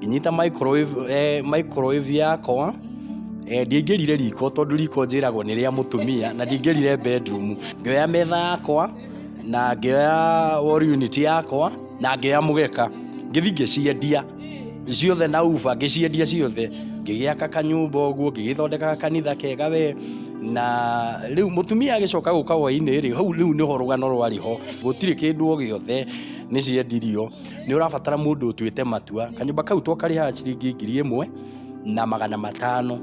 ngĩnyita microwave eh, microwave yakwa eh, ndingĩrire riko tondũ riko njĩragwo nĩ rĩa mũtumia na ndingĩrire bedroom ngĩoya metha yakwa na ngĩoya wall unit yakwa na ngĩoya mũgeka ngĩthi ngĩciendia ciothe na uba ngĩciendia ciothe ngĩgĩaka kanyũmba ũguo ngĩgĩthondekaga kanitha kega we na rĩu mũtumia agĩcoka gũka hwainĩ rĩ hau rĩu nĩho rũgano rwarĩ ho gũtirĩ kĩndũ o gĩothe nĩciendirio nĩ ũrabatara mũndũ ũtuĩte matua kanyũmba kau to karĩhaga ciringi ngiri ĩmwe na magana matano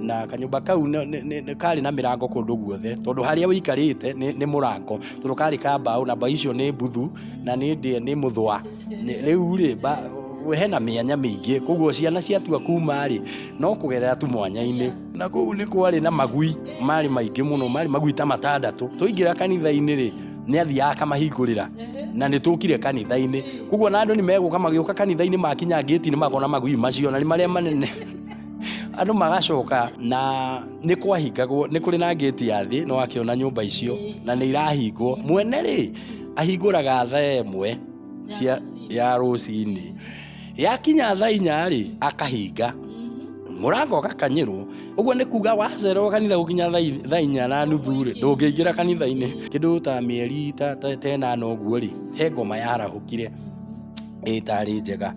na kanyũmba kau nĩ- nĩ- nĩ- nĩ karĩ na mĩrango kũndũ guothe tondũ harĩa ũikarĩte nĩ nĩ mũrango tondũ karĩ ka mbaũ na mbaũ icio nĩ mbuthu na nĩ ndĩ- nĩ mũthwa Nĩ- rĩu rĩ mba- hena mĩanya mĩingĩ koguo ciana ciatua kuma rĩ no kũgerera tu mwanya-inĩ na kũu nĩ kwarĩ na magui marĩ maingĩ mũno marĩ magui ta matandatũ tũingĩra kanitha-inĩ rĩ nĩ athiaga akamahingũrĩra na nĩ tũkire kanitha-inĩ koguo na andũ nĩ megũka magĩũka kanitha-inĩ makinya ngĩti nĩ makona magui macio na nĩ marĩa manene andũ magacoka na nĩ kwahingagwo nĩ kũrĩ na ngĩti ya thĩ no akĩona nyũmba icio na nĩ irahingwo mwene rĩ ahingũraga thaa ĩmwe cia ya rũcinĩ yakinya thaa inya-rĩ akahinga mũrango gakanyĩrwo ũguo nĩ kuga wacererwo kanitha gũkinya thaa inya na nuthu-rĩ ndũngĩingĩra kanitha-inĩ kĩndũ ta mĩeri tenana ũguo-rĩ he ngoma yarahũkire ĩtarĩ njega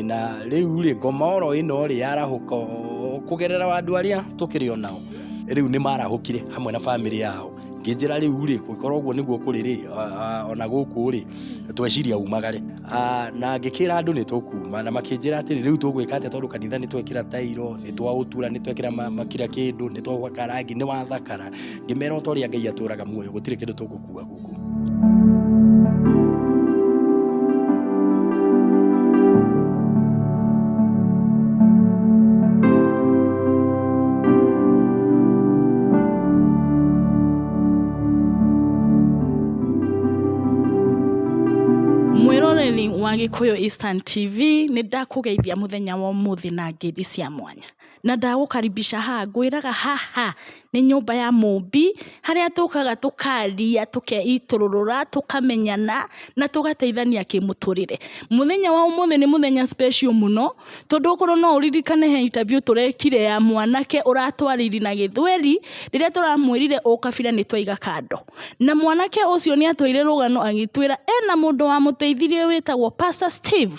na rĩu-rĩ ngoma oro ĩno-rĩ yarahũka kũgerera andũ arĩa tũkĩrĩ o nao rĩu nĩ marahũkire hamwe na bamĩrĩ yao ngĩnjĩra rĩu-rĩ korwo ũguo nĩguo kũrĩ-rĩ ona gũkũ-rĩ tweciria umagare. Ah, na ngĩkĩra andũ nĩ tũkuma na makĩnjĩra atĩrĩ rĩu tũgwĩka atĩa tondũ kanitha nĩ twekĩra tairo nĩ twaũtura nĩ twekĩra ma- ma- kira kĩndũ nĩ twagwaka rangi nĩ wathakara ngĩmera o ta ũrĩa ngai atũraga muoyo gũtirĩ kĩndũ tũgũkua gũkũ Mwĩroreri wa Gĩkũyũ Instant TV, nĩ ndakũgeithia mũthenya wa ũmũthĩ na ngeithi cia mwanya. Na ndagũkaribisha haha, ngwĩraga haha nĩ nyũmba ya Mũmbi, harĩa tũkaga tũkaria, tũkeitũrũrũra, tũkamenyana, na tũgateithania kĩmũtũrĩre. Mũthenya wa ũmũthĩ nĩ mũthenya special mũno, tondũ okorwo no ũririkane he interview tũrekire ya mwanake ũratwarire na gĩthweri, rĩrĩa tũramwĩrire ũkabira nĩ twaiga kando. Na mwanake ũcio nĩ atwĩire rũgano agĩtwĩra ena mũndũ wamũteithirie wĩtagwo Pastor Steve.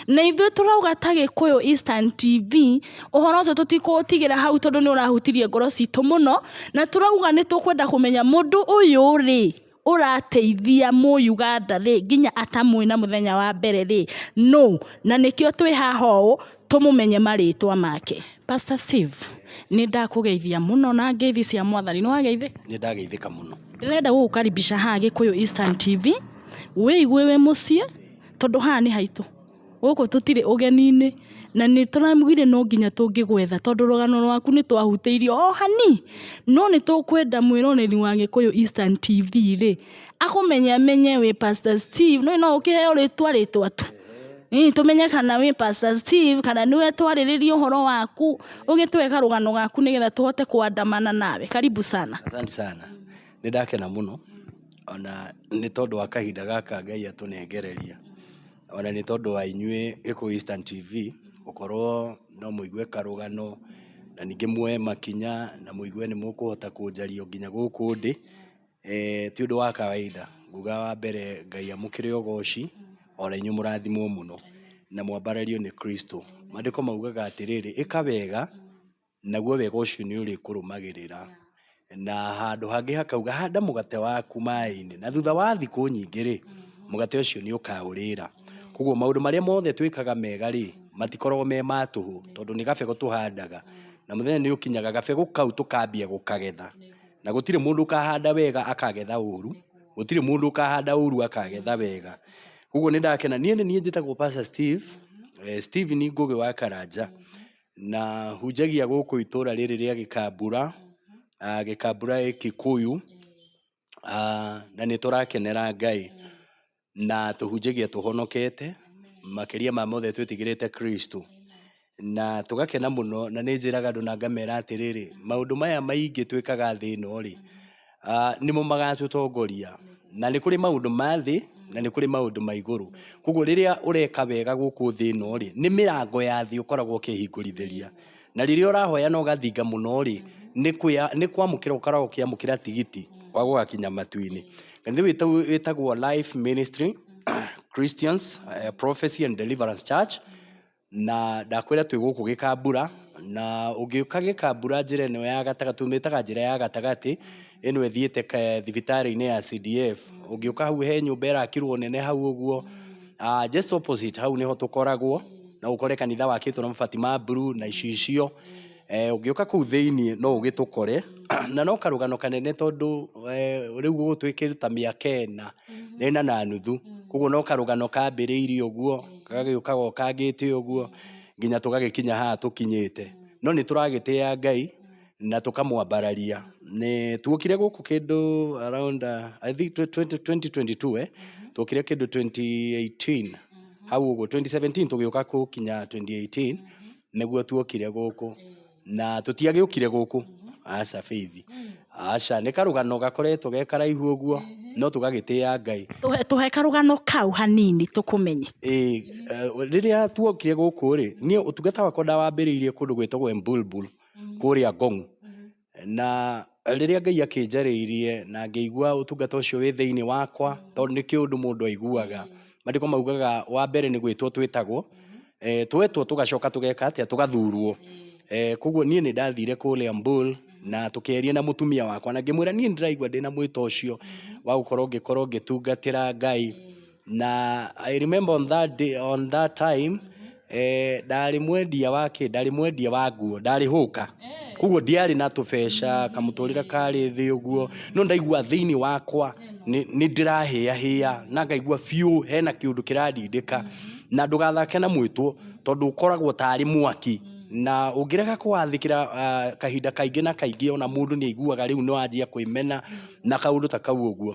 Na ithuĩ tũrauga ta Gĩkũyũ Eastern TV, ũhoro ũcio tũtikũũtigĩra hau tondũ nĩ ũrahutirie ngoro citũ mũno, na tũrauga nĩ tũkwenda kũmenya mũndũ ũyũ rĩ, ũrateithia Mũyuganda rĩ, nginya atamũĩ na mũthenya wa mbere rĩ, nũ? Na nĩkĩo twĩ haha ũũ. tũmũmenye marĩtwa make. Pastor Steve, nĩ ndakũgeithia mũno na ngeithi cia mwathani. Nĩ wageithĩka? Nĩ ndageithĩka mũno. Ndĩrenda gũgũkaribisha haha Gĩkũyũ Eastern TV, wĩigue wĩ mũciĩ tondũ haha nĩ haitũ. Gũkũ tũtirĩ ũgeni-inĩ na nĩ tũraugire no nginya tũngĩgwetha tondũ rũgano rwaku nĩ twahutĩirio o hanini. No nĩ tũkwenda mwĩroreri wa Gĩkũyũ Eastern TV rĩ, akũmenye amenye wĩ pastor steve nĩ no ũkĩheo rĩtwa rĩtwa tu Ĩĩ, tũmenye kana wĩ pastor steve kana nĩwe twarĩrĩria ũhoro waku ũgĩtũhe karũgano gaku nĩgetha tũhote kwandamana nawe karibu sana asante sana nĩ ndakena mũno ona nĩ tondũ wa kahinda gaka ngai atũnengereria ona nĩ tondũ wa inyuĩ gĩkũ eastern tv gũkorwo no mũigue karũgano na ningĩ muoe makinya na mũigue nĩ mũkũhota kũnjario nginya gũkũ ndĩ Eeh ti ũndũ wa kawaida. Nguga wa mbere Ngai amũkĩre ũgooci, o na inyuĩ mũrathimwo mũno, na mwambarĩrio nĩ Kristũ. Maandĩko maugaga atĩrĩrĩ, ĩka wega, naguo wega ũcio nĩ ũrĩkũrũmagĩrĩra. Na handũ hangĩ hakauga, handa mũgate waku maaĩ-inĩ, na thutha wa thikũ nyingĩ rĩ, mũgate ũcio nĩ ũkaũrĩra. Kwoguo maũndũ marĩa mothe twĩkaga mega rĩ, matikoragwo me ma tũhũ, tondũ nĩ gabegũ tũhandaga, na mũthenya nĩ ũkinyaga gabegũ kau tũkambia gũkagetha. Na gũtirĩ mũndũ ũkahanda wega akagetha ũru, gũtirĩ mũndũ ũkahanda ũru akagetha wega. Koguo nĩ ndakena. Niĩ nĩ niĩ njĩtagwo Pastor Steve, eh, Steven Ngũgĩ wa Karanja, na hunjagia gũkũ itũũra rĩrĩ rĩa Gĩkambura, ah, Gĩkambura Kikuyu, ah, na nĩ tũrakenera Ngai. na tũhunjagia tũhonokete makĩria ma mothe twĩtigĩrĩte kristo na tũgakena mũno na nĩ njĩraga andũ na ngamera atĩrĩrĩ maũndũ maya maingĩ twĩkaga thĩ ĩno rĩ ah, nĩmo magatũtongoria na nĩ kũrĩ maũndũ ma thĩ na nĩ kũrĩ maũndũ ma igũrũ koguo rĩrĩa ũreka wega gũkũ thĩ ĩno rĩ nĩ mĩrango ya thĩ ũkoragwo ũkĩhingũrithĩria na rĩrĩa ũrahoya na ũgathinga mũno rĩ nĩ kwĩa- nĩ kwamũkĩra ũkoragwo ũkĩamũkĩra tigiti wa gũgakinya matu-inĩ kanitha ũyũ wĩtagwo- wĩtagwo life ministry christians eh, prophecy and deliverance church na ndakwĩra twĩ gũkũ gĩkambura na ũngĩũka gĩkambura njĩra ĩno ya gatagatĩ tumĩtaga njĩra ya gatagatĩ ĩno ĩthiĩte thibitarĩ-inĩ ya CDF. Ũngĩũka hau he nyũmba ĩrakirwo nene hau ũguo, ah, just opposite hau nĩho tũkoragwo, no ũkore kanitha wakĩtwo na mabati ma blue na icicio. Eh, ũngĩũka kũu thĩiniĩ no ũgĩtũkore, na no karũgano kanene tondũ eh, rĩu gũgũtuĩkĩte ta mĩaka ĩna, ĩna na nuthu, koguo no karũgano kambĩrĩirie ũguo, gagĩũkaga o kangĩte ũguo, nginya tũgagĩkinya haha tũkinyĩte. No nĩ tũragĩtĩa Ngai. na tũkamwambararia nĩ tuokire gũkũ kĩndũ around uh, I think 2022 eh tuokire kĩndũ 2018 hau ũguo 2017 tũgĩũka gũkinya 2018 nĩguo tuokire gũkũ na tũtiagĩũkire gũkũ aca bĩithi aca nĩ karũgano gakoretwo ge karaihu ũguo no tũgagĩtĩa ngai Tũhe- tũhe karũgano kau hanini tũkũmenye Ĩĩ, eh, rĩrĩa tuokire gũkũ rĩ niĩ ũtungata wakwa ndawambĩrĩirie kũndũ gwĩtagwo embulbul kũrĩa Ngong'. Na rĩrĩa Ngai akĩnjarĩirie na ngĩigua ũtungata ũcio wĩ thĩinĩ wakwa, tondũ nĩ kĩũndũ mũndũ aiguaga. Maandĩko maugaga wa mbere nĩ gwĩtwo twĩtagwo, twetwo tũgacoka tũgeka atĩa? Tũgathurwo. Kwoguo niĩ nĩ ndathire kũrĩa Mbul na tũkĩaria na mũtumia wakwa na ngĩmwĩra niĩ nĩ ndĩraigua ndĩna mwĩto ũcio wa gũkorwo ngĩkorwo ngĩtungatĩra Ngai. Na I remember on that day, on that time eh, ndarĩ mwendia wa kĩ ndarĩ mwendia wa nguo ndarĩ hũka koguo ndiarĩ na tũbeca kamũtũrĩre karĩ thĩ ũguo no ndaigua thĩinĩ wakwa nĩ nĩ ndĩrahĩahĩa na ngaigua biũ hena kĩũndũ kĩrandindĩka na ndũgathake na mwĩtwo tondũ ũkoragwo tarĩ mwaki na ũngĩrega kũwathĩkĩra ah, kahinda kaingĩ na kaingĩ ona mũndũ nĩ aiguaga rĩu nĩ wanjia kwĩmena na kaũndũ ta kau ũguo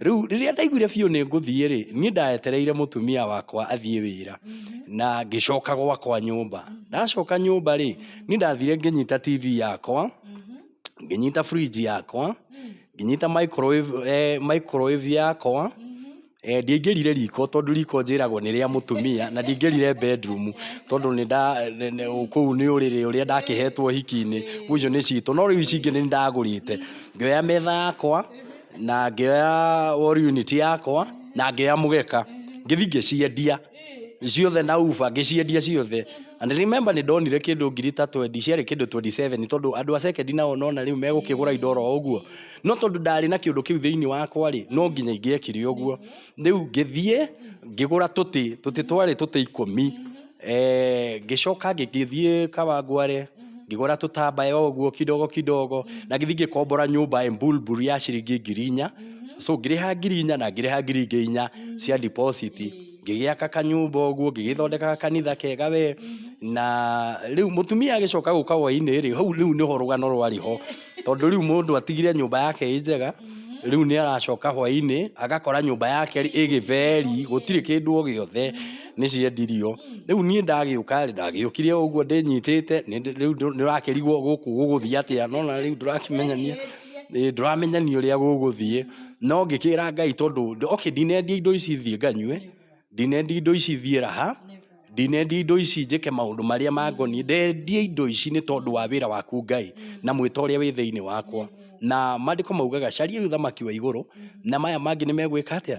Rĩu rĩrĩa ndaiguire biũ nĩ ngũthiĩ rĩ, niĩ ndaetereire mũtumia wakwa athiĩ wĩra na ngĩcoka gwakwa nyũmba. Ndacoka nyũmba rĩ, niĩ ndathire ngĩnyita TV yakwa, ngĩnyita fridge yakwa, ngĩnyita microwave, eh, microwave yakwa, Eh, ndiaingĩrire riko tondũ riko njĩragwo nĩ rĩa mũtumia na ndiaingĩrire bedroom tondũ nĩ nda nĩ- nĩ- kũu nĩ ũrĩrĩ ũrĩa ndakĩhetwo hiki-inĩ ũcio nĩ citũ no rĩu ici ingĩ nĩ ndagũrĩte ngĩoya metha yakwa na ngĩoya wall unit yakwa na ngĩoya mũgeka ngĩthi ngĩciendia ciothe na uba ngĩciendia ciothe and remember nĩ ndonire kĩndũ ngiri ta 20 ciarĩ kĩndũ 27 tondũ andũ a second nao nona rĩu megũkĩgũra indo oro ũguo no tondũ ndarĩ na kĩndũ kĩu thĩinĩ wakwa rĩ no nginya ingĩekire ũguo rĩu ngĩthiĩ ngĩgũra tũtĩ tũtĩ twarĩ tũtĩ ikũmi Eh, ngĩcoka ngĩgĩthiĩ kawangware ngĩgũra tũtambaya ũguo kidogo kidogo na gĩthiĩ ngĩkombora nyũmba embulbul ya ciringi ngiri inya so ngĩrĩha ngiri inya na ngĩrĩha ngiri ingĩ inya cia deposit ngĩgĩaka kanyũmba ũguo ngĩgĩthondekaga kanitha kega we na rĩu mũtumia agĩcoka gũka hwainĩ rĩ hau rĩu nĩho rũgano rwarĩ ho tondũ rĩu mũndũ atigire nyũmba yake ĩ njega rĩu nĩ aracoka hwainĩ agakora nyũmba yake ĩgĩtheri gũtirĩ kĩndũ o gĩothe nĩ ciendirio. Rĩu niĩ ndagĩũka rĩ, ndagĩũkire o ũguo ndĩnyitĩte, nĩ- rĩu ndũ- nĩũrakĩrigwo gũkũ gũgũthiĩ atĩa, nona rĩu ndũrakĩmenyania Ĩĩ, ndũramenyania ũrĩa gũgũthiĩ, no ngĩkĩra Ngai tondũ nd- okay ndinendia indo ici thiĩ nganyue, ndinendia indo ici thiĩ raha, ndinendia indo ici njĩke maũndũ marĩa mangoniĩ, ndendia indo ici nĩ tondũ wa wĩra waku Ngai, na mwĩta ũrĩa wĩ thĩinĩ wakwa. Na mandĩko maugaga cariai ũthamaki wa igũrũ, na maya mangĩ nĩmegwĩka atĩa?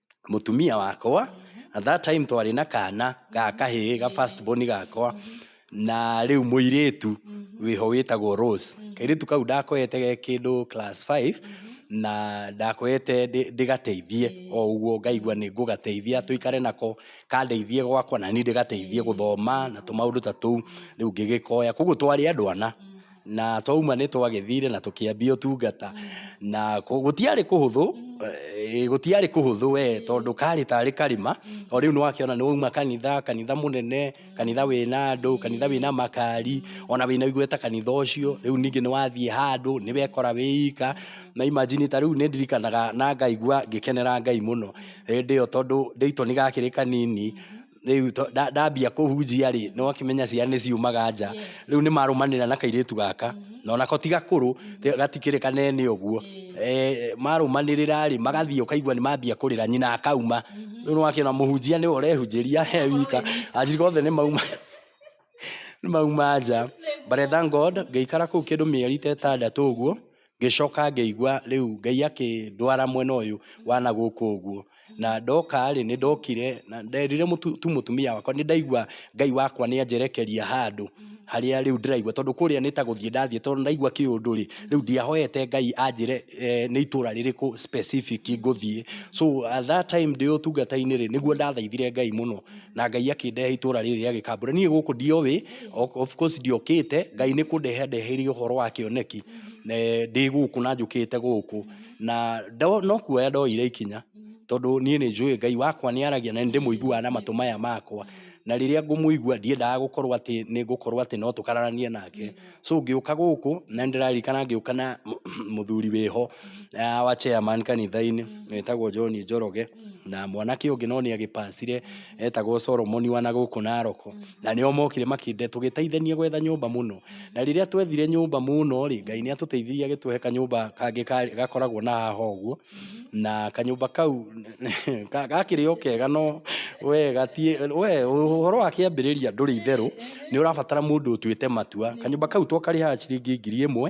mũtumia wakwa, at that time twarĩ na kana ga kahĩĩ ga first born gakwa, na rĩu mũirĩtu wĩho wĩtagwo Rose. Kairĩtu kau ndakoete ge kĩndũ class five, na ndakoete ndĩ- ndĩgateithie o ũguo ngaigua nĩ ngũgateithia tũikare nako, kandeithie gwakwa naniĩ ndĩgateithie gũthoma na tũmaũndũ ta tũu, rĩu ngĩgĩkoya. Koguo twarĩ andũ ana. na twauma nĩ twagĩthire na tũkĩambia ũtungata na kũ- gũtiarĩ kũhũthũ eh, gũtiarĩ kũhũthũ we tondũ karĩ tarĩ karĩma o rĩu nĩ wakĩona nĩ wauma kanitha kanitha mũnene kanitha wĩna andũ kanitha wĩna makari ona wĩna igweta kanitha ũcio rĩu ningĩ nĩ wathiĩ handũ nĩ wekora wĩika na imagine ta rĩu nĩ ndirikanaga na ngaigua ngĩkenera ngai mũno hĩndĩ ĩyo tondũ ndĩitwo nĩ gakĩrĩ kanini rĩu to- nda- ndambia kũhunjia rĩ nĩ wakĩmenya ciana nĩ ciumaga nja Yes. rĩu nĩ marũmanĩra na kairĩtu gaka na onako ti gakũrũ te- gatikĩrĩ kanene ũguo Eh, marũmanĩrĩra rĩ magathiĩ ũkaigua nĩ mambia kũrĩra nyina akauma rĩu nĩ wakĩona mũhunjia nĩwe ũrehunjĩria he wika anjirika othe nĩ mauma nĩ mauma nja but I thank God ngĩikara kũu kĩndũ mĩeri ta ĩtandatũ ũguo Ngĩcoka ngĩigua rĩu Ngai akĩndwara mwena ũyũ wa na gũkũ ũguo. Na ndoka-rĩ, nĩ ndokire, na nderire mũtu- tu mũtumia wakwa, nĩ ndaigua Ngai wakwa nĩ anjerekeria handũ harĩa rĩu ndĩraigua, tondũ kũrĩa nĩ ta gũthiĩ ndathiĩ, tondũ nĩ ndaigua kĩũndũ-rĩ, rĩu ndiahoete Ngai anjĩre eh, nĩ itũra rĩrĩkũ specific ngũthiĩ. So at that time ndĩ ũtungata-inĩ-rĩ, nĩguo ndathaithire Ngai mũno, na Ngai akĩndehe itũra rĩrĩ rĩa Gĩkambura. Niĩ gũkũ ndiowĩ, o- of course ndiokĩte, Ngai nĩ kũndehe andeheire ũhoro wa kĩoneki. ndĩ gũkũ na njũkĩte gũkũ, na no kuoya ndoire ikinya, tondũ niĩ nĩ njũĩ Ngai wakwa nĩ aragia na nĩ ndĩmũiguaga na matũ maya makwa, na rĩrĩa ngũmũigua ndiendaga gũkorwo atĩ nĩ ngũkorwo atĩ no tũkararanie nake, so ngĩũka gũkũ na nĩ ndĩraririkana ngĩũka na mũthuri wĩho wa chairman kanitha-inĩ wetagwo John Njoroge, na mwanake ũngĩ no nĩ agĩpacire etagwo Solomon wa nagũkũ Naroko, na nĩo mokire tũgĩteithania gwetha nyũmba mũno. Na rĩrĩa twethire nyũmba mũno rĩ, Ngai nĩ atũteithirie agĩtũhe kanyũmba kangĩ ka- gakoragwo na haha ũguo. Na kanyũmba kau ka- gakĩrĩ o kega no we gatiĩ we ũhoro wa kĩambĩrĩria ndũrĩ itherũ, nĩ ũrabatara mũndũ ũtuĩte matua. Kanyũmba kau twakarĩhaga ciringi ngiri ĩmwe.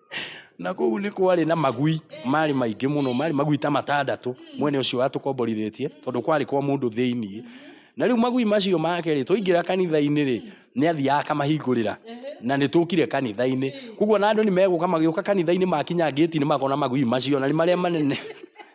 Na kũu nĩ kwarĩ na magui marĩ maingĩ mũno, marĩ magui ta matandatũ mwene ũcio watũkomborithĩtie tondũ kwarĩ kwa mũndũ thĩinĩ. Na rĩu magui macio make rĩ, twaingĩra kanitha-inĩ rĩ, nĩ athiaga akamahingũrĩra na nĩ tũkire kanitha-inĩ. Kwoguo ona andũ nĩ megũka magĩũka kanitha-inĩ makinya ngĩti-inĩ makona magui macio na nĩ marĩa manene.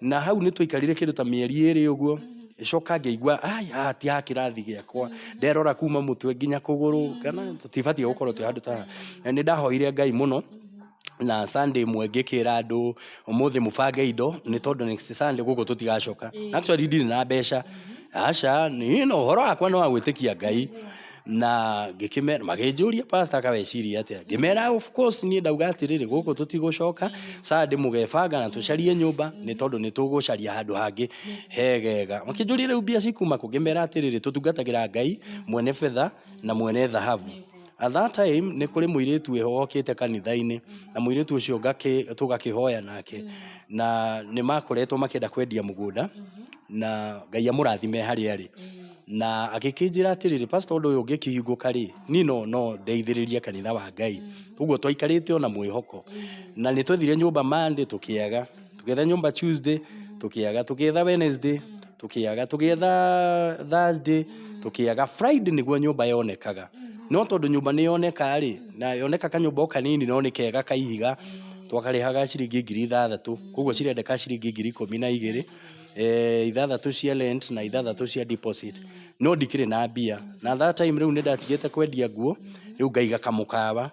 na hau nä twaikarire kä ndå ta mä eri ä rä å guo coka ngäigua haha ti ha kä rathi gä akwa nderora kuma må twe nginya kå gå rå kana tå tibatiä gå korwo twä handå ta nä ndahoire ngai må no na Sunday mwe ngĩkĩra andũ ũmũthĩ mũbange indo nĩ tondũ next Sunday gũkũ tũtigacoka actually ndirĩ na mbeca aca nĩ no ũhoro wakwa nĩ wa gwĩtĩkia ngai na ngĩkĩmera magĩnjũria pastor kaweciria atĩa ngĩmera of course niĩ ndauga atĩrĩrĩ gũkũ tũtigũcoka Sunday mũgebanga na tũcarie nyũmba nĩ tondũ nĩ tũgũcaria handũ hangĩ hegega makĩnjũria rĩu mbia cikuma kũ ngĩmera atĩrĩrĩ tũtungatagĩra ngai mwene betha na mwene thahabu at that time nĩ kũrĩ mũirĩtu wĩho wokĩte kanitha-inĩ na mũirĩtu ũcio ngakĩ- tũgakĩhoya nake na nĩ makoretwo makĩenda kwendia mũgũnda na ngai amũrathime harĩa arĩ na agĩkĩnjĩra atĩrĩrĩ pastor ũndũ ũyũ ũngĩkĩhingũka rĩ niĩ no no ndeithĩrĩrie kanitha wa ngai ũguo twaikarĩte ona mwĩhoko na nĩ twethire nyũmba monday tũkĩaga tũgĩetha nyũmba tuesday tũkĩaga tũgĩetha wednesday tũkĩaga tũgĩetha thursday tũkĩaga friday nĩguo nyũmba yonekaga no tondũ nyũmba nĩ yoneka rĩ na yoneka kanyũmba o kanini no nĩ kega ka ihiga twakarĩhaga ciringi ngiri ithathatũ koguo cirendeka ciringi ngiri ikũmi na igĩrĩ eh, ithathatå cia rent na ithathatå cia deposit no ndikĩrĩ na mbia na that time rĩu nĩ ndatigĩte kwendia nguo rĩu ngaiga kamũkawa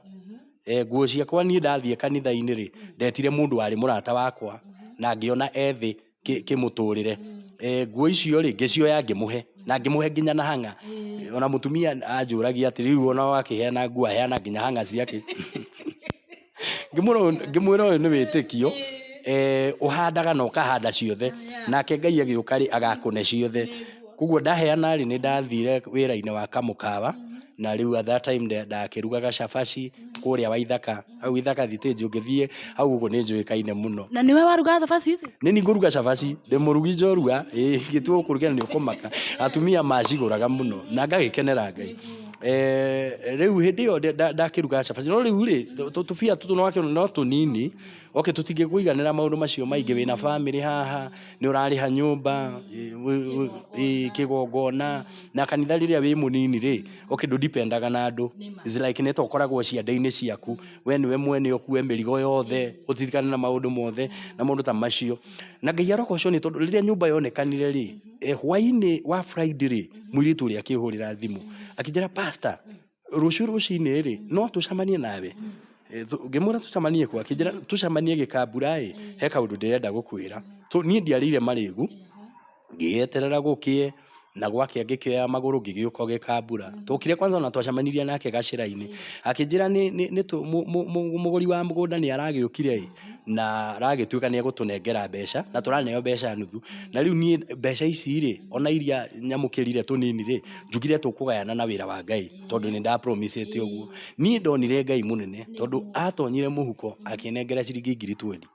eh, nguo ciakwa niĩ ndathiĩ kanitha-inĩ rĩ ndetire mũndũ warĩ mũrata wakwa na ngĩona ethĩ kĩmũtũrĩre eh, nguo icio rĩ ngĩcioya ngĩmũhe na ngĩmũhe nginya na hang'a ona mũtumia anjũragia atĩ rĩu ona wakĩheana nguo aheana nginya hang'a ciake ngĩmwĩra ũyũ- ngĩmwĩra ũyũ nĩ wĩtĩkio eh, ũhandaga na ũkahanda ciothe nake ngai agĩũka rĩ agakũne ciothe koguo ndaheana rĩ nĩ ndathire wĩra-inĩ wa kamũkawa na rĩu at that time nda- ndakĩrugaga cabaci kũrĩa waithaka hau ithaka thitĩnji ũngĩthiĩ hau ũguo nĩ njũĩkaine mũno na nĩwe warugaga thabaci ici nĩ ni ngũruga cabaci ndĩ mũrugi njorua ĩĩ, ngĩtua gũkũruga nĩ ũkũmaka atumia macigũraga mũno na ngagĩkenera ngai Eh, riu hindi iyo ndakiruga cabaci no riu ri tubia tutu no akiona no tunini oke tutingikuiganira maundu macio maingi wina family haha ni urariha nyumba kigongona na kanitha riria wi munini ri oke ndu dipendaga na andu is like ni to koragwo cianda-ini ciaku we niwe mwene okue mirigo yothe utirikane na maundu mothe na maundu ta macio na ngai arogoco ni tondu riria nyumba yonekanire ri eh, hwainĩ wa friday rĩ mwĩirĩtu ũrĩa akĩhũrĩra thimũ akĩnjĩra pasta rũciũ rũcinĩ rĩ no tũcamanie nawe Eh, tũ- ngĩmwĩra tũcamanie kwa akĩnjĩra tũcamanie gĩkambura ĩ he kaũndũ ndĩrenda gũkwĩra Tũ- niĩ ndiarĩire marĩgu ngĩeterera gũkĩe na gwakĩa ngĩkĩoya magũrũ ngĩgĩũka gĩkambura tokire kwanza ona twacamanirie nake gacĩra-inĩ akĩnjĩra nĩ- nĩ- nĩ tũ- mũ- mũ- mũ- mũgũri wa mũgũnda nĩ aragĩũkire ĩ na aragĩtuĩka nĩ egũtũnengera mbeca na tũraneo mbeca nuthu na rĩu niĩ mbeca ici rĩ ona iria nyamũkĩrire tũnini rĩ njugire tũkũgayana na wĩra wa Ngai tondũ nĩ nda promise ĩte ũguo niĩ ndonire Ngai mũnene tondũ atonyire mũhuko akĩnengera ciringi ngiri twendi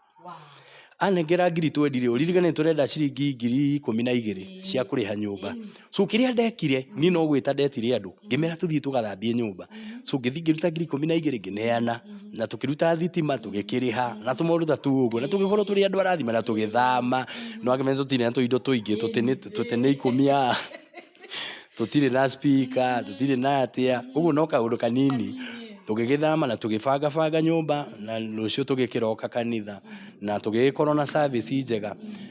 anengera ngiri twendi rĩ ũririkane nĩ tũrenda ciringi ngiri ikũmi na igĩrĩ cia kũrĩha nyũmba so kĩrĩa ndekire niĩ no gwĩta ndetire andũ ngĩmera tũthiĩ tũgathambie nyũmba so ngĩthiĩ ngĩruta ngiri ikũmi na igĩrĩ ngĩneana na tũkĩruta thitima tũgĩkĩrĩha na tũmaũndũ ta tũu ũguo na tũgĩkorwo tũrĩ andũ arathima na tũgĩthama no akĩmenya tũtirĩ na tũindo tũingĩ tũtĩ nĩ- tũtĩ nĩ ikũmi a tũtirĩ na spika tũtirĩ na atĩa ũguo no kaũndũ kanini tũgĩgĩthama na tũgĩbangabanga nyũmba na rũciũ tũgĩkĩroka kanitha na tũgĩgĩkorwo na service njega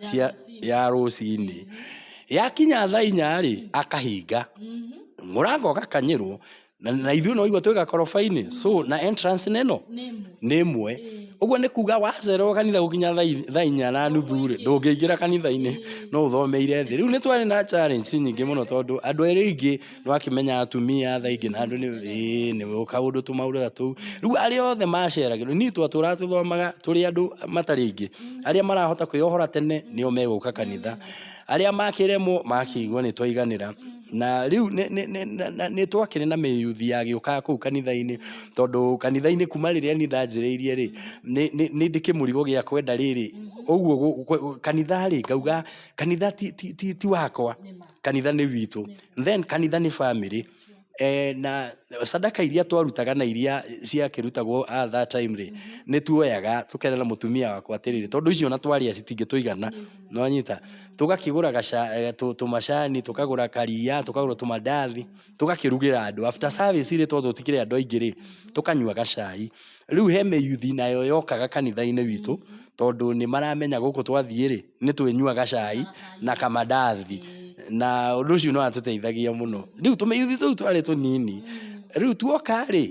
cia ya rũcinĩ yakinya thaa inya rĩ akahinga mũrango ũgakanyĩrwo na na ithuĩ nĩ waigua twĩ gakoroba-inĩ so na entrance nĩ ĩno nĩ ĩmwe ũguo nĩ kuga wacererwo kanitha gũkinya thaa i- thaa inya na nuthu rĩ ndũngĩingĩra kanitha-inĩ no ũthomeire thĩ rĩu nĩ twarĩ na challenge nyingĩ mũno tondũ andũ arĩa aingĩ nĩ wakĩmenya atumia tha ingĩ na andũ nĩ ĩĩ nĩ kaũndũ tũmaũndũ ta tũu rĩu arĩa othe maceragĩrwo niĩ twatũraga tũthomaga tũrĩ andũ matarĩ aingĩ arĩa marahota kwĩyohora tene nĩo megũka kanitha arĩa makĩremwo makĩigua nĩ twaiganĩra na rĩu nĩ- nĩ- nĩ- na- na- nĩ twakĩrĩ na mĩyuthi yagĩũkaga kũu kanitha-inĩ tondũ kanitha-inĩ kuma rĩrĩa niĩ ndanjĩrĩirie rĩ nĩ- nĩ nĩ ndĩ kĩmũrigo gĩa kwenda rĩrĩ ũguo gũ- gũ- kanitha rĩ ngauga kanitha ti- ti ti- ti wakwa kanitha nĩ witũ then kanitha nĩ family eh, na sadaka iria twarutaga na iria ciakĩrutagwo at that time rĩ nĩ tuoyaga tũkerera mũtumia wakwa atĩrĩrĩ tondũ icio na twarĩa citingĩtũigana nonyita tũgakĩgũra gaca- eh, tũ- tũmacani tũkagũra karia tũkagũra tũmandathi tũgakĩrugĩra andũ after service rĩ tondũ tũtikĩrĩ andũ aingĩ rĩ tũkanyua gacai rĩu he mĩyuthi nayo yokaga kanitha-inĩ witũ tondũ nĩ maramenya gũkũ twathiĩ rĩ nĩ twĩnyuaga cai na kamandathi na ũndũ ũcio nĩ watũteithagia mũno. Rĩu tũmĩyuthi tũu twarĩ tũnini, rĩu tuoka rĩ,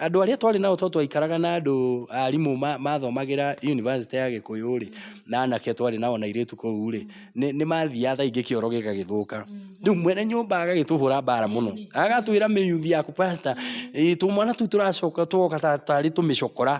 andũ arĩa twarĩ nao tondũ twaikaraga na andũ arimũ mathomagĩra yunibacĩtĩ ya Gĩkũyũ rĩ, na anake twarĩ nao na airĩtu kũu rĩ, nĩ mathiaga thaa ingĩ kĩoro gĩgagĩthũka. Rĩu mwene nyũmba agagĩtũhũra mbara mũno, agatwĩra mĩyuthi yaku pastor tũmwana tũu tũracoka twoka tarĩ tũmĩcokora.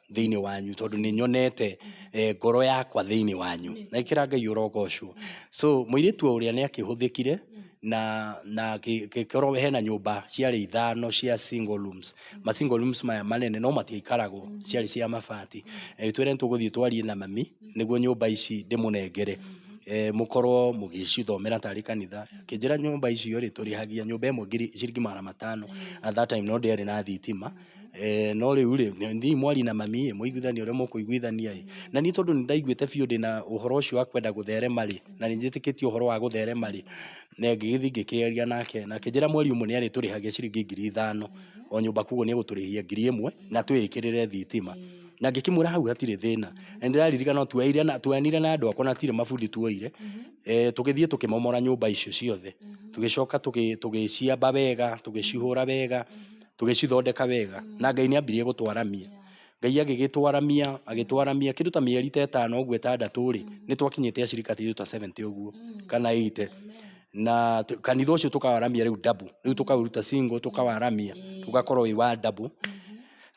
thĩinĩ wanyu tondũ nĩ nyonete eh, ngoro yakwa thĩinĩ wanyu na ĩkĩra ngai ũrogocwo so mũirĩtu o ũrĩa nĩ akĩhũthĩkire na na kĩ- kĩkorwo hena nyũmba ciarĩ ithano cia single rooms ma single rooms maya manene no matiaikaragwo ciarĩ cia mabati Eh, twĩre nĩ tũgũthiĩ twarie na mami nĩguo nyũmba ici ndĩmũnengere eh, mũkorwo mũgĩcithomera tarĩ kanitha kĩnjĩra nyũmba icio rĩ tũrĩhagia nyũmba ĩmwe ngiri ciringi magana matano at that time no ndĩarĩ na thitima Eeh no rĩu rĩ, thiĩi mwarie na mami ĩ, mũiguithanie ũrĩa mũkũiguithania ĩ, na niĩ tondũ nĩ ndaiguĩte biũ ndĩna ũhoro ũcio wa kwenda gũtherema rĩ, na nĩ njĩtĩkĩtie ũhoro wa gũtherema rĩ, na ngĩgĩthiĩ ngĩkĩaria nake, na akĩnjĩra mweri ũmwe nĩ arĩtũrĩhagia ciringi ngiri ithano o nyũmba, koguo nĩ egũtũrĩhia ngiri ĩmwe na twĩĩkĩrĩre thitima. Na ngĩkĩmwĩra hau hatirĩ thĩna, na nĩ ndĩraririkana tuoeire na tuoyanire na andũ akwa na hatirĩ mabundi tuoire, eeh tũgĩthiĩ tũkĩmomora nyũmba icio ciothe, tũgĩcoka tũgĩciamba wega, tũgĩcihũra wega, tũgĩcithondeka wega na Ngai nĩ ambirie gũtwaramia. Ngai agĩgĩtwaramia, agĩtwaramia kĩndũ ta mĩeri ta ĩtano ũguo ĩtandatũ rĩ, nĩ twakinyĩte acirika ta ithuĩ ta seventy ũguo kana eighty. Na kanitha ũcio tũkawaramia rĩu double, rĩu tũkaũruta single tũkawaramia ũgakorwo wĩ wa double.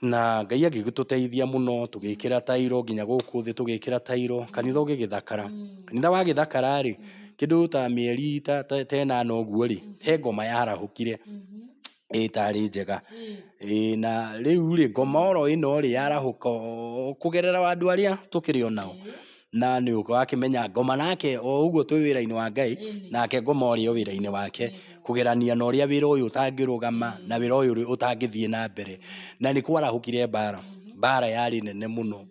Na Ngai agĩgĩtũteithia mũno tũgĩkĩra tairo nginya gũkũ thĩ tũgĩkĩra tairo, kanitha ũgĩgĩthakara. Kanitha wagĩthakara rĩ, kĩndũ ta mĩeri ta ta ĩnana ũguo rĩ, he ngoma yarahũkire. ĩtarĩ njega. Ĩĩ na rĩu rĩ, ngoma oro ĩno rĩ, yarahũka o kũgerera o andũ arĩa tũkĩrĩ o nao. Na nĩ ũrakĩmenya ngoma nake o ũguo twĩ wĩra-inĩ wa Ngai, nake ngoma arĩ o wĩra-inĩ wake, kũgerania na ũrĩa wĩra ũyũ ũtangĩrũgama, na wĩra ũyũ ũtangĩthiĩ na mbere. Na nĩ kwarahũkire mbara, mbara yarĩ nene mũno.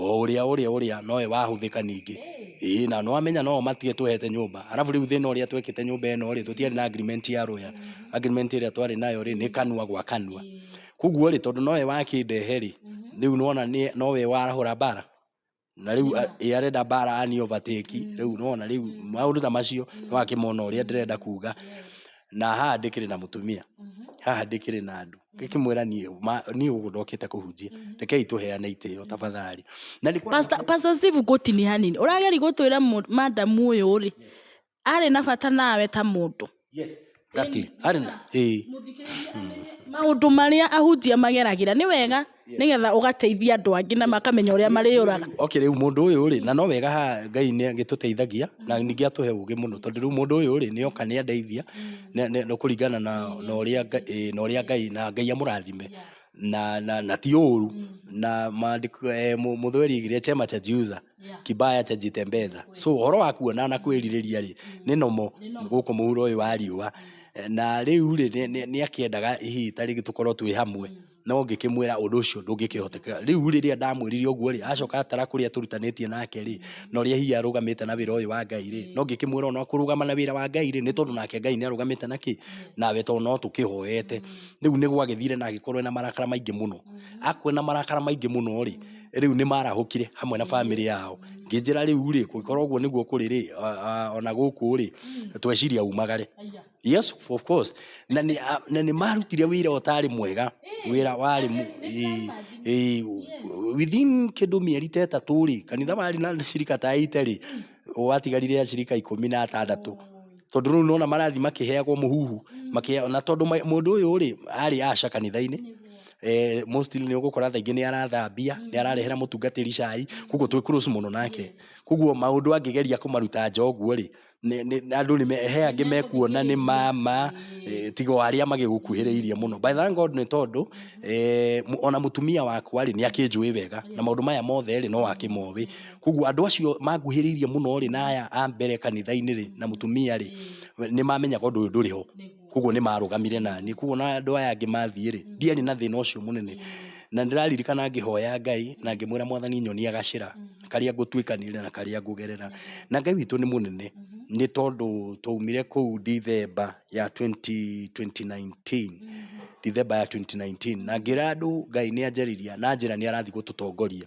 o ũrĩa ũrĩa ũrĩa nowe wahũthĩka ningĩ ĩĩ na nĩwamenya no matige twehete nyũmba arabu rĩu thĩna ũrĩa twekĩte nyũmba ĩno rĩ tũtiarĩ na agreement ya rũya agreement ĩrĩa twarĩ nayo rĩ nĩ kanua gwa kanua koguo rĩ tondũ nowe wakĩndehe rĩ rĩu nona nĩ- nowe warahũra mbara na rĩu a- ĩ arenda mbara ani overtake rĩu nona rĩu maũndũ ta macio nĩwakĩmona ũrĩa ndĩrenda kuga na haha ndĩkĩrĩ na mũtumia haha ndĩkĩrĩ na andũ ngĩkĩmwĩra niĩ ma- niĩ gũkũ ndokĩte kũhunjia rekei tũheane itĩo tafadhali na nĩ Pastor- Pastor Steve ngũtini hanini ũrageri gũtwĩra mũ- madam ũyũ rĩ arĩ na bata nawe ta mũndũ yes exactly arĩ na ĩĩ maũndũ marĩa ahunjia mageragĩra nĩ wega nĩgetha ũgateithia andũ angĩ na makamenya ũrĩa marĩũraga. Okay, rĩu mũndũ ũyũ rĩ, na no wega ha Ngai nĩ agĩtũteithagia na ningĩ atũhe ũgĩ mũno tondũ rĩu mũndũ ũyũ rĩ, nĩ oka nĩ andeithia nĩ kũringana na ũrĩa na ũrĩa Ngai na Ngai amũrathime na na na ti ũru na maandĩko eh, mũthweri igire chema cha jiuza kibaya cha jitembeza so ũhoro wa kuona na kwĩrirĩria rĩ nĩ nomo gũkũ mũhuro ũyũ wa riũa eh, na rĩu rĩ nĩ akĩendaga hihi tarĩngĩ tũkorwo twĩ hamwe no ngĩkĩmwĩra ũndũ ũcio ndũngĩkĩhotekeka. Rĩu rĩrĩa ndamwĩrire ũguo rĩ, acoka atara kũrĩa tũrutanĩtie nake rĩ, na ũrĩa hihi arũgamĩte na wĩra ũyũ wa Ngai rĩ, no ngĩkĩmwĩra ona kũrũgama na wĩra wa Ngai rĩ, nĩ tondũ nake Ngai nĩ arũgamĩte na kĩ? Nawe tondũ no tũkĩhoete. Rĩu nĩ gwagĩthire na agĩkorwo ena marakara maingĩ mũno. Akorwo ena marakara maingĩ mũno rĩ, rĩu nĩ marahũkire hamwe na bamĩrĩ yao. Ngĩnjĩra rĩu rĩ, kũngĩkorwo ũguo nĩguo kũrĩ rĩ, ona gũkũ rĩ, tweciria umagare. Yes, of course. Na nĩ a- na nĩ marutire wĩra ũtarĩ mwega wĩra warĩ mu- ĩ- ĩ- within kĩndũ mĩeri ta ĩtatũ rĩ kanitha warĩ na cirika ta ite rĩ watigarire ya cirika ikũmi na atandatũ tondũ rĩu nona marathi makĩheagwo mũhuhu makĩheagwo- na tondũ ma- mũndũ ũyũ rĩ arĩ aca kanitha-inĩ eh, mostly nĩ ũgũkora thaingĩ nĩ arathambia nĩ ararehera mũtungatĩri cai koguo twĩ close mũno nake koguo maũndũ angĩgeria kũmaruta njoguo rĩ nĩ- nĩ- nĩ- andũ nĩ me- he angĩ mekuona nĩ mama eh, tiga o arĩa magĩgũkuhĩrĩirie mũno But thank God nĩ tondũ eh, mu- ona mũtumia wakwa rĩ nĩ akĩnjũĩ wega na maũndũ maya mothe rĩ no akĩmoĩ koguo andũ acio manguhĩrĩirie mũno rĩ na aya a mbere kanitha-inĩ rĩ na mũtumia rĩ nĩ mamenyaga ũndũ ũyũ ndũrĩ ho Koguo nĩ marũgamire na niĩ. Koguo ona andũ aya angĩ mathiĩ rĩ, ndiarĩ na thĩna ũcio mũnene. Na nĩ ndĩraririkana ngĩhoya Ngai na ngĩmwĩra Mwathani nyonia gacĩra karĩa ngũtuĩkanĩria na karĩa ngũgerera. Na Ngai witũ nĩ mũnene nĩ tondũ twaumire kũu Ndithemba ya twenty twenty nineteen, Ndithemba ya twenty nineteen. Na ngĩra andũ Ngai nĩ anjariria na njĩra nĩ arathiĩ gũtũtongoria.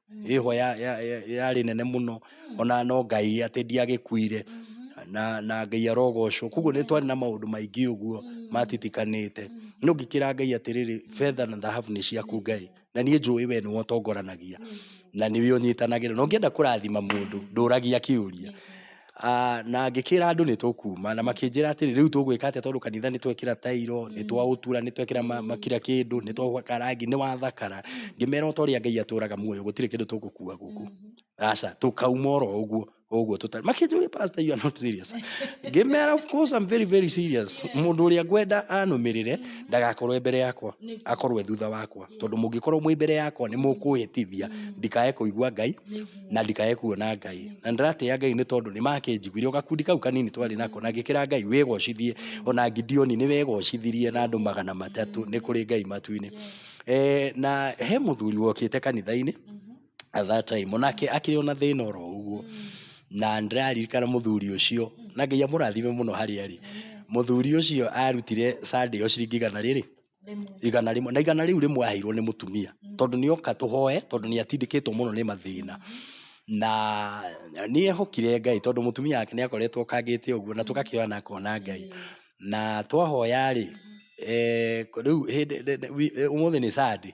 ĩhwa ya- ya- ya- yarĩ nene mũno ona no ngai atĩ ndiagĩkuire na, na ngai arogocwo koguo nĩ twarĩ na maũndũ maingĩ ũguo matitikanĩte no ngĩkĩra ngai atĩrĩrĩ betha na thahabu nĩ ciaku ngai na niĩ njũĩ we nĩwe ũtongoranagia na nĩwe ũnyitanagĩra na ũngĩenda kũrathima mũndũ ndũragia kĩũria Ah, na ngĩkĩra andũ nĩ tũkuuma na makĩnjĩra atĩrĩ rĩu tũgwĩka atĩa tondũ kanitha nĩ twekĩra tairo nĩ twaũtura nĩ twekĩra ma- ma- kira kĩndũ nĩ twahaka rangi nĩ wathakara ngĩmera o ta ũrĩa ngai atũraga muoyo gũtirĩ kĩndũ tũgũkua gũkũ aca tũkauma oro ũguo o ũguo tũtarĩ makĩnjũria pastor you are not serious ngĩmera of course I'm very very serious mũndũ ũrĩa ngwenda anũmĩrĩre ndagakorwo e mbere yakwa Nĩ- akorwo e thutha wakwa tondũ mũngĩkorwo mwĩ mbere yakwa nĩ mũkũhĩtithia ndikae kũigua ngai nĩ- na ndikae kuona Ngai. Na ndĩratĩa Ngai nĩ tondũ nĩ makĩnjiguire. O gakundi kau kanini twarĩ nako na ngĩkĩra Ngai wĩgocithie. Ona Gideoni nĩ wegocithirie na andũ magana matatũ nĩ kũrĩ Ngai matu-inĩ. Eh, na he mũthuri wokĩte kanitha-inĩ at that time onake akĩrĩ ona thĩna oro ũguo na ndĩraririkana mũthuri ũcio na Ngai amũrathime mũno harĩa arĩ. Mũthuri ũcio arutire Sunday o ciringi igana rĩrĩ igana rĩmwe na igana rĩu rĩmwe aheirwo nĩ mũtumia tondũ nĩ oka tũhoe tondũ nĩ atindĩkĩtwo mũno nĩ mathĩna na nĩ ehokire ngai tondũ mũtumia wake nĩ akoretwo okangĩte ũguo na tũgakĩoya na akona ngai na twahoya rĩ eh, rĩu hĩndĩ- nĩ- nĩ- wi- eh, ũmũthĩ nĩ sande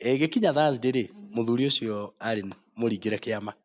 gĩkinya thursday rĩ mũthuri ũcio arĩ mũringĩre kĩama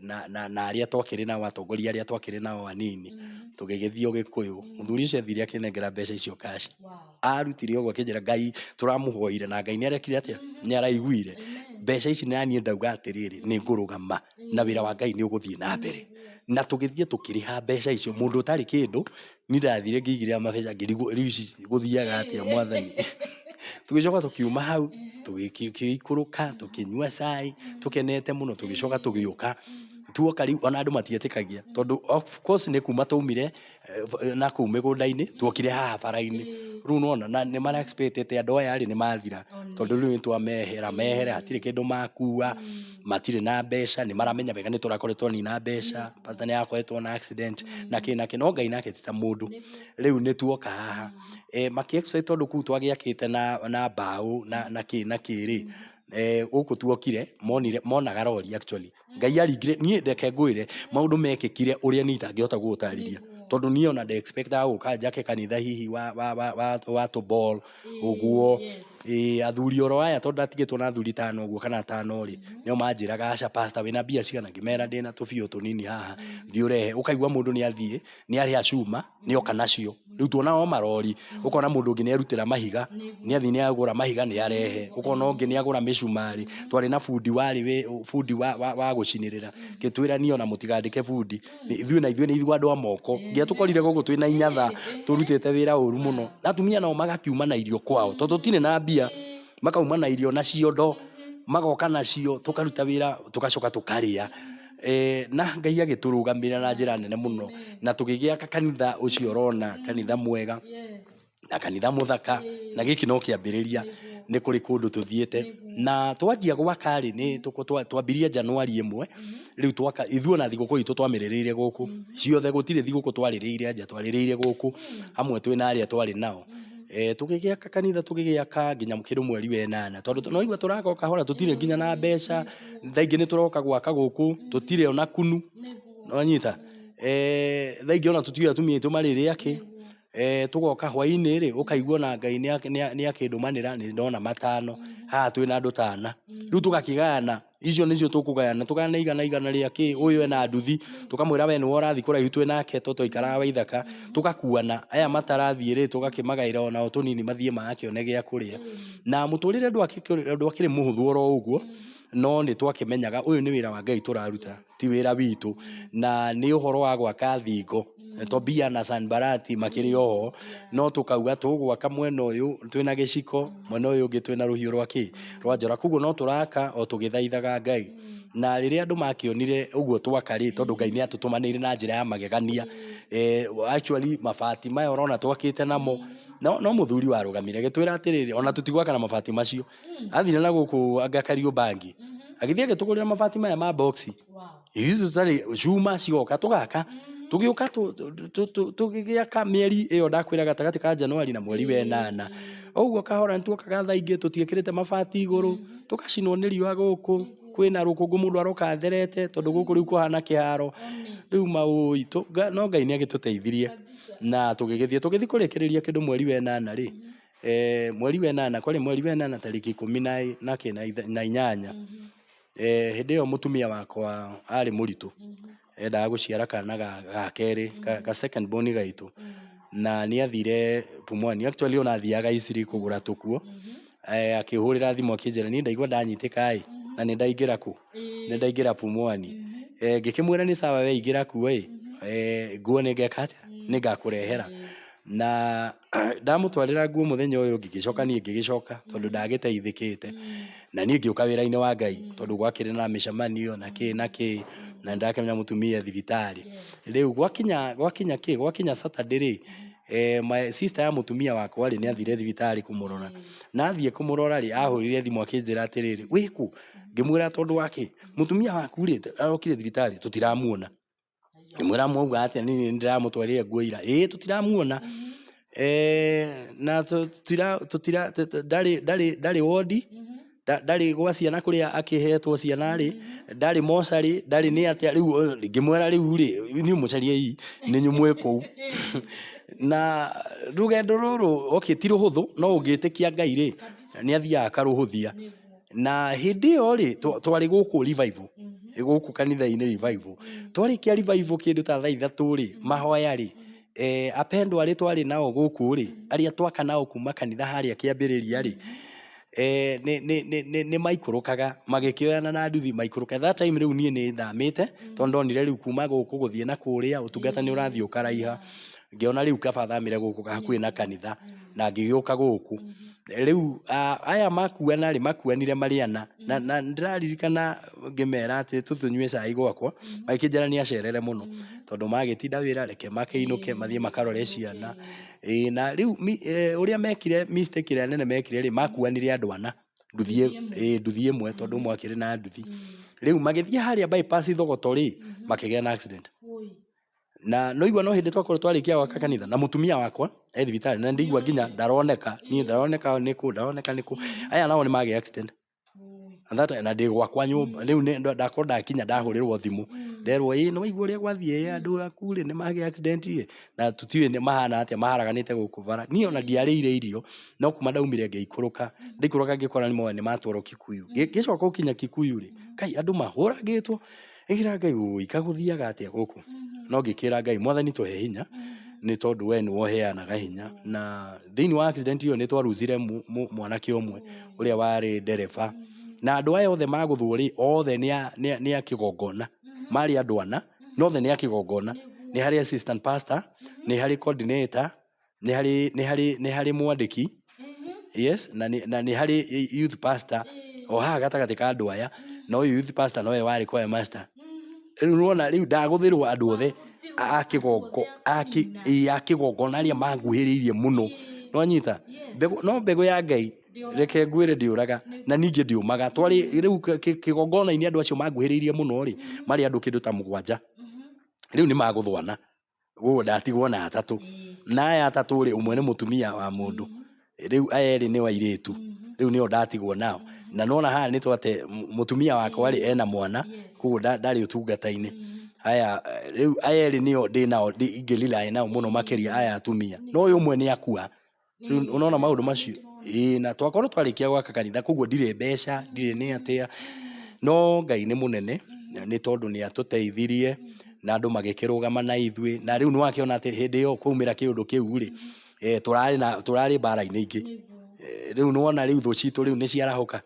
na arĩa twakĩrĩ nao, atongoria arĩa twakĩrĩ nao anini, tũgĩgĩthiĩ ũgĩkũyũ. Mũthuri ũcio athire akĩnengera mbeca icio cash. Arutire ũguo akĩnjĩra Ngai tũramũhoire na Ngai nĩ arekire atĩa? Nĩ araiguire. Mbeca ici na niĩ ndauga atĩrĩrĩ, nĩ ngũrũgama na wĩra wa Ngai nĩ ũgũthiĩ na mbere. Na tũgĩthiĩ tũkĩrĩha mbeca icio mũndũ ũtarĩ kĩndũ Niĩ ndathire ngĩigĩrĩra mabeca ngĩrigwo rĩu ici gũthiaga atĩa mwathani. Tũgĩcoka tũkiuma hau, tũgĩikũrũka, tũkĩnyua cai, tũkenete mũno, tũgĩcoka tũgĩũka. Tuoka rĩu ona andũ matietĩkagia tondũ of course nĩ kuuma twaumire na kũu mĩgũnda-inĩ, tuokire haha bara-inĩ. Rĩu nĩ wona, na nĩ mara expect atĩ andũ aya nĩ mathira tondũ rĩu nĩ twamehera mehera, hatirĩ kĩndũ makua. matirĩ na mbeca nĩ maramenya wega nĩ tũrakoretwo nina mbeca pasta nĩ arakoretwo na accident na kĩ na kĩ no ngai nake ti ta mũndũ rĩu nĩ tuoka haha eh, makĩ expect tondũ kuu twagĩakĩte na na mbaũ na na kĩ na kĩ rĩ eh, gũkũ tuokire monire monaga rori actually ngai aringire niĩ ndeke ngwĩre maũndũ mekĩkire ũrĩa niĩ itangĩhota gũgũtarĩria tondũ niĩ ona nde expectaga gũka njake kanitha hihi wa wa wa wa, wa tũbol ũguo, ĩ athuri oro aya tondũ ndatigĩtwo na athuri tano ũguo kana atano rĩ, nĩo manjĩraga aca pastor wĩna mbia cigana, ngĩmera ndĩna tũbia tũnini haha, thiĩ ũrehe, ũkaigua mũndũ nĩ athiĩ, nĩ arĩha cuma, nĩ oka nacio, rĩu tuona o marori, ũkona mũndũ ũngĩ nĩ erutĩra mahiga, nĩ athiĩ nĩ agũra mahiga nĩ arehe, ũkona ũngĩ nĩ agũra mĩcumarĩ, twarĩ na bundi warĩ wĩ, bundi wa wa wa gũcinĩrĩra, ngĩtwĩra niĩ ona mũtigandĩke bundi. Nĩ- ithuĩ na ithuĩ nĩ ithuĩ andũ a moko nginya tũkorire gũkũ twĩ na inyatha tũrutĩte wĩra ũru mũno na atumia nao magakiuma na irio kwao tondũ tũtirĩ na mbia makauma na irio na ciondo magoka nacio tũkaruta wĩra tũgacoka tũkarĩa Eh, na ngai agĩtũrũgamĩrĩra na njĩra nene mũno na tũgĩgĩaka kanitha ũcio ũrona kanitha mwega Yes. na kanitha muthaka na giki no kiambiriria ni kuri kundu tuthiite na twanjia gwaka ri ni twambirie januari imwe riu twaka ithuo na thiguku itu twamiririire guku ciothe gutire thiguku twaririire nja twaririire guku amwe twi na aria twari nao eh, tugigiaka kanitha tugigiaka nginya kindu mweri we nana tondu no igua turaka o kahora tutire nginya na mbeca thaingi ni turoka gwaka guku tutire ona kunu no nyita eh, thaingi ona tutiwe atumia itu maririake Eeh tũgoka hwainĩ-rĩ, ũkaigua ona Ngai nĩakĩndũmanĩra nĩ ndona matano, haha twĩ na andũ ta ana. Rĩu tũgakĩgayana, icio nĩcio tũkũgayana, tũgayane igana igana rĩa kĩ, ũyũ ena nduthi, tũkamwĩra we nĩwe ũrathiĩ kũraihu twĩ nake tondũ twaikaraga Waithaka, tũgakuana, aya matarathiĩ-rĩ, tũgakĩmagaĩra ona o tũnini mathiĩ magakĩone gĩa kũrĩa. Na mũtũrĩre ndwakĩrĩ mũhũthũ oro ũguo, no nĩtwakĩmenyaga ũyũ nĩ wĩra wa Ngai tũraruta. ti wĩra witũ na nĩ ũhoro wa gwaka thingo Tobia na Sanbarati makĩrĩ oho no tũkauga tũgwaka mwena ũyũ twĩna gĩciko mwena ũyũ ũngĩ twĩna rũhiũ rwa kĩ rwa njora koguo no tũraka o tũgĩthaithaga Ngai na rĩrĩa andũ makĩonire ũguo twaka rĩ tondũ Ngai nĩ atũtũmanĩire na njĩra ya magegania eh, actually mabati maya ũrona twakĩte namo no, no mũthuri warũgamire gĩtwĩra atĩrĩrĩ ona tũtigwaka na mabati macio Mm. athire na gũkũ anga kariũmbangi Mhm. agĩthiĩ agĩtũgũrĩra mabati maya ma boxi Wow. ithuĩ tũtarĩ cuma cigoka tũgaka Mhm. tũgĩũka tũ- tũ- tũ- tũ- tũgĩgĩaka mĩeri ĩyo ndakwĩra gatagatĩ ka januari na mweri wenana ũguo kahora nĩtuokaga thaa ingĩ tũtiĩkĩrĩte mabati igũrũ Mhm. tũgacinwo nĩ riũa gũkũ kwĩna rũkũngũ mũndũ aroka atherete tondũ gũkũ rĩu kũhana kĩharo One. rĩu maũi tũ- nga- no ngai nĩ agĩtũteithirie Kabisa. na tũgĩgĩthiĩ tũgĩthiĩ kũrĩkĩrĩria kĩndũ mweri wenana rĩ Mhm. mweri wa ĩnana, kwarĩ mweri wa ĩnana tarĩki ikũmi na inyanya, hĩndĩ ĩyo mũtumia wakwa arĩ mũritũ, endaga gũciara kana ga kerĩ, ga second born gaitũ, na nĩ athire Pumwani, actually o na athiaga Eastleigh kũgũra tũkuo, akĩhũrĩra thimũ akĩnjĩra, niĩ ndaigua ndanyitĩka ĩ, na nĩ ndaingĩra kũ? nĩ ndaingĩra Pumwani, ngĩkĩmwĩra nĩ sawa we ingĩra kuo ĩ, nguo nĩ ngeka atĩa? nĩ ngakũrehera. na ndamũtwarĩra nguo mũthenya ũyũ ũngĩ ngĩcoka niĩ ngĩgĩcoka tondũ ndagĩteithĩkĩte na niĩ ngĩũka wĩra-inĩ wa ngai tondũ gwakĩrĩ na mĩcemanio na kĩ na kĩ na ndĩrakĩmenya mũtumia e thibitarĩ rĩu gwakinya gwakinya kĩ gwakinya Saturday rĩ eh, my sister ya mũtumia wakwa rĩ nĩ athire thibitarĩ kũmũrora na athiĩ kũmũrora rĩ ahũrire thimũ akĩnjĩra atĩrĩrĩ wĩkũ ngĩmwĩra tondũ wa kĩ mũtumia waku rĩ arokire thibitarĩ tũtiramuona ngĩmwĩra mwauga atĩa nĩ nĩ ndĩramũtwarĩre nguo ira ĩĩ tũtiramuona eh, na tũtira tũtira tũ- tũ- ndarĩ ndarĩ ndarĩ wondi nda- ndarĩ gwa ciana kũrĩa akĩhetwo ciana rĩ ndarĩ mocarĩ ndarĩ nĩ atĩa rĩu ũyũ rĩ, ngĩmwĩra rĩu rĩ niĩ mũcariei nĩ nyumwĩ kũu na rũgendo rũrũ okay ti rũhũthũ no ũngĩtĩkia ngai rĩ nĩ athiaga akarũhũthia na hĩndĩ ĩyo rĩ twa- twarĩ gũkũ revival gũkũ kanitha-inĩ revival twarĩkia revival kĩndũ ta thaa ithatũ rĩ mahoya rĩ eh, apendwa arĩ twarĩ nao gũkũ rĩ arĩa twaka nao kuma kanitha harĩa kĩambĩrĩria rĩ eh, nĩ- nĩ- nĩ- nĩ- nĩ maikũrũkaga magĩkĩoyana na nduthi maikũrũka that time rĩu niĩ nĩ thamĩte tondũ ndonire rĩu kuma gũkũ gũthiĩ na kũrĩa ũtungata nĩ ũrathiĩ ũkaraiha ngĩona rĩu kaba thamĩre gũkũ hakuhĩ na kanitha na ngĩgĩũka gũkũ rĩu ah, aya makuana rĩ makuanire marĩ ana na Mhm. na ndĩraririkana ngĩmera atĩ tũtũnyue cai gwakwa Mhm. magĩkĩnjĩra nĩ acerere mũno Mhm. tondũ magĩtinda wĩra reke makĩinũke Ĩĩ, mathiĩ makarore makĩinũke, ciana ĩĩ. ĩĩ na rĩu mi- eh, ũrĩa mekire mistake ĩrĩa nene mekire rĩ makuanire andũ ana nduthi Nduthi ĩ- ĩmwe. ĩĩ, nduthi ĩmwe tondũ Mhm. ũmwe akĩrĩ na nduthi Mhm. rĩu magĩthiĩ harĩa bypass thogoto rĩ Mhm. makĩgĩa na accident Wũi. na noigua no hĩndĩ twakorwo twarĩkia gwaka kanitha na mũtumia wakwa e thibitarĩ na ndĩigua nginya ndaroneka niĩ ndaroneka nĩ kũ ndaroneka nĩ kũ aya nao nĩ magĩa accident And that- na ndĩ gwakwa nyũmba rĩu nĩ- ndo- ndakorwo ndakinya ndahũrĩrwo thimũ nderwo ĩ nĩ waigua ũrĩa gwathiĩ ĩ andũ aku rĩ nĩ magĩa accident ĩ na tũtiũĩ nĩ mahana atĩa maharaganĩte gũkũ bara niĩ ona ndiarĩire irio no kuma ndaumire ngĩikũrũka ndaikũrũka ngĩkora nĩ moya nĩ matwarwo kikuyu Ngĩ- ngĩcoka gũkinya kikuyu rĩ kai andũ mahũragĩtwo Ĩkĩra Ngai ũĩ, kagũthiaga atĩa gũkũ? No ngĩkĩra Ngai, mwathani tũhe hinya, nĩ tondũ we nĩwe ũheanaga hinya. Na thĩinĩ wa accident ĩyo nĩ twa lose ire mũ- mũ- mwanake ũmwe ũrĩa warĩ ndereba. Na andũ aya othe magũthwo rĩ, othe nĩ a- nĩ a- nĩ a kĩgongona. Marĩ andũ ana, na othe nĩ a kĩgongona. Nĩ harĩ assistant pastor, nĩ harĩ coordinator, nĩ harĩ nĩ harĩ nĩ harĩ mwandĩki yes na nĩ na nĩ harĩ youth pastor o haha gatagatĩ ka andũ aya na ũyũ youth pastor nowe warĩ choir master rĩu nĩwona rĩu ndagũthĩrwo andũ othe a kĩgongo a kĩ- ĩ, a kĩgongona arĩa manguhĩrĩirie mũno nĩwanyita mbegũ no mbegũ ya ngai reke ngwĩre ndĩũraga na ningĩ ndĩũmaga twarĩ rĩu kĩ- kĩ- kĩgongona-inĩ andũ acio manguhĩrĩirie mũno rĩ marĩ andũ kĩndũ ta mũgwanja rĩu nĩ magũthwana guo ndatigwo na atatũ na aya atatũ rĩ umwe nĩ mutumia wa mundu riu aya eri ni wairitu riu nio ndatigwo nao na nona haha ni twate mutumia wakwa ri ena mwana koguo ndari utungata-ini aya riu aya eri nio ndi nao ingirely nao muno makiria aya atumia no uyu umwe ni akua Rĩu Nĩ- unaona maundu macio ĩĩ na twakorwo twarĩkia gwaka kanitha koguo ndirĩ mbeca ndirĩ nĩ atĩa no ngai nĩ mũnene na nĩ tondũ nĩ atũteithirie na andũ magĩkĩrũgama na ithuĩ na rĩu nĩ wakĩona atĩ hĩndĩ ĩyo kwaumĩra kĩũndũ kĩu rĩ eh, tũrarĩ na tũrarĩ mbara-inĩ ingĩ Nĩguo. Eh, rĩu nĩwona rĩu thũ citũ rĩu nĩ ciarahũka